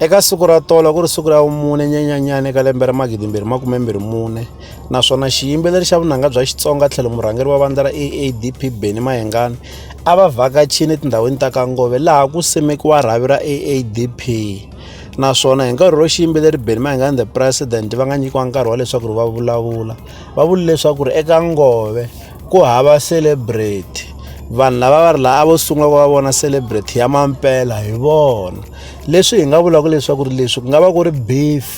Eka siku ra tolo ku ri siku ra vumune nyenyenyani eka lembe ra magidi mbirhi makume mbirhi mune naswona xiyimbeleri xa vunanga bya Xitsonga tlhelo murhangeri wa vandla ra AADP Benny Mayengani a va vhakachini etindhawini ta Kangove laha ku simekiwa rhavi ra AADP naswona hi nkarhi ro xiyimbeleri Benny Mayengani the president va nga nyikiwa nkarhi wa leswaku ri va vulavula va vule leswaku ri eka Ngove ku hava celebrity vanhu lava va ri laha a vo sungula ku va vona celebrity ya mampela hi vona leswi hi nga vulaka leswaku ri leswi ku nga va ku ri beef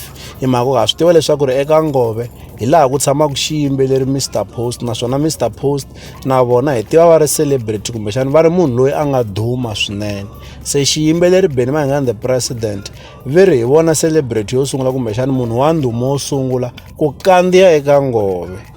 hi mhaka ku ha swi tiva leswaku ri eka ngove hi laha ku tshamaka xiyimbeleri mr post naswona mr post na vona hi tiva va ri celebrity kumbexana va ri munhu loyi a nga duma swinene se xiyimbeleri beni va hi nga the president ve ri hi vona celebrity yo sungula kumbexana munhu wa ndhuma wo sungula ku kandziya eka ngove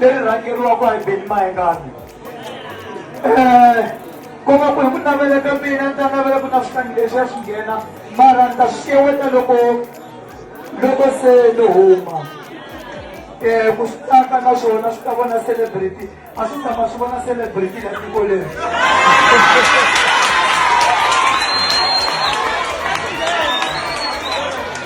leri rhangeriwaka hi beni mayengani um eh, koma ku hi ku navela ka mina ni ta navela ku na switangi leswi ya swi nghena mara ni ta swi xeweta loko loko se ni huma um ku swi tsaka na swona swi ta vona celebrity a swi tshama swi vona celebrity la tiko leri